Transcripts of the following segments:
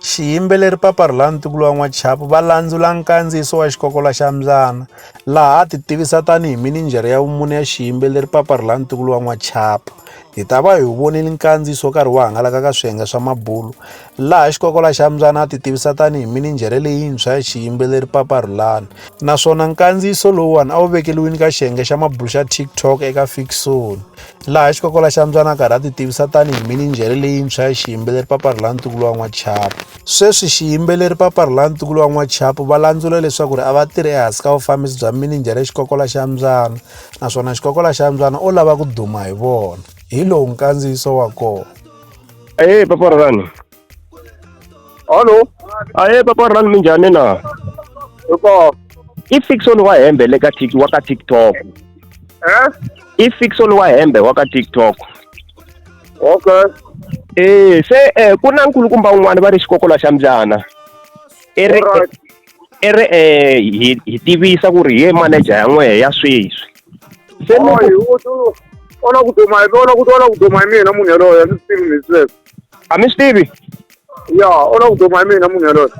Xiyimbeleri Papa Rhulani Ntukulu wa N'wachapu va landzula nkandziyiso wa Xikokola xa Mbyana laha a titivisa tani hi minijhere ya vumune ya xiyimbeleri Papa Rhulani Ntukulu wa N'wachapu. Hi ta va hi wu vonile nkandziyiso wu karhi wu hangalaka ka swiyenge swa mabulo laha Xikokola xa Mbyana a titivisa tani hi minijhere leyintshwa ya xiyimbeleri Papa Rhulani naswona nkandziyiso lowuwani a wu vekeriwile ka xiyenge xa mabulo xa TikTok eka Fiksoni. laha xikokola xa mbyana karhi a titivisa tanihi mininjhere leyintshwa ya xiyimbeleri papari la ntukulu wa n'wachapu sweswi xiyimbeleri papari la ntukulu wa n'wachapu va landzula leswaku ri a va tirhi ehansi ka vufambisi bya mininjhere xikokola xa mbyana naswona xikokola xa mbyana o lava ku duma hi vona hi lowu nkandziyiso wa kona e paparani Hallo. Aye papa rhani minjhani na? Hi kona. I Fixon wa hembe le ka tik wa ka TikTok. Eh? I Fixon wa hembe wa ka TikTok. Okay. Eh se eh ku na nkulukumba un'wana va ri xikokola xa mbyana. I ri Alright. i ri eh hi hi tivisa ku ri hi ye manager ya n'wehe ya sweswi. Se Oyi, loko u tu- ona ku duma hi ona ku ona ku duma hi mina munhu yaloye a ndzi swi tivi ni sweswo. a mi swi tivi ya u lava ku duma hi mina munhu yaloyo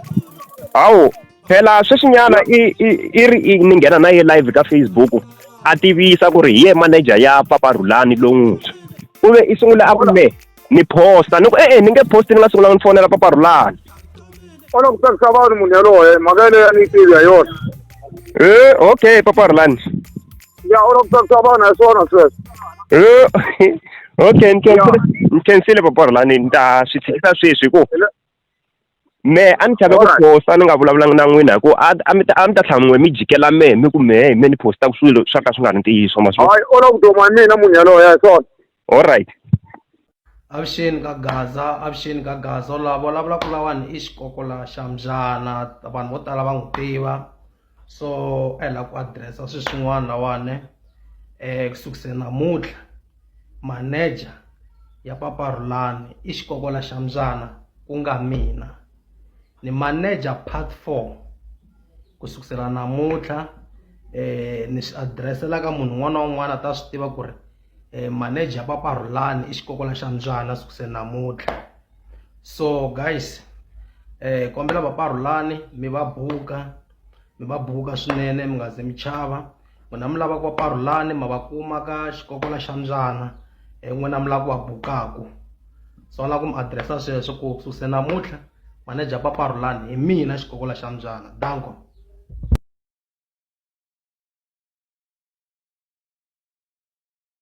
hawu phela sweswinyana i i i ri i ni nghena na ye live ka facebook a tivisa ku ri hi ye manager ya papa rhulani lowuntshwa u ve i sungule a ku me ni posta ni ku e-e ni nge posti ni nga sungulanga ni fonela papa rhulani u lava ku tsakisa vanhu munhu yaloye mhaka yeleyo a ni yi tivi ha yona e okay papa rhulani Ya oro to to bona so no so. Eh, okay ni khensile ni khensile papa ri lani ni ta swi tshikisa sweswi hi ku me a ni chave ku Alright. posta ni nga vulavulanga na n'wina hi ku a a mi ta a mi ta tlhela n'we mi jikela mehe mi ku mehe hi me ni postaka swilo swa ka swi nga ri ntiyiso ma swi vona? Hayi oro to mwa mina munhu yaloye so. alright avuxeni ka gaza avuxeni ka gaza u lava vulavula ku lawani i xikokola xa mbyana vanhu vo tala va n'wi tiva so a hi lava ku adiresa swilo swin'wana lawani um eh, ku sukise namuntlha maneja ya papa rhulani i xikokola xa mbyana ku nga mina ni maneja part four ku sukusela namuntlha um ni swi adiresela ka munhu un'wana na un'wana a ta swi tiva ku ri eh, manager papa rhulani i xikokola xa mbyana sukuse namuntlha so guys eh kombela papa rhulani mi va buka mi va buka swinene mi nga ze mi chava n'wina mi lava ku va parhulani ma va kuma ka xikokola xa mbyana eh, n'wina mi lava ku va bukaku so ni lava ku mi adiresa sweswo ku sukuse namuntlha manager papa rhulani hi mina xikokola xa mbyana danko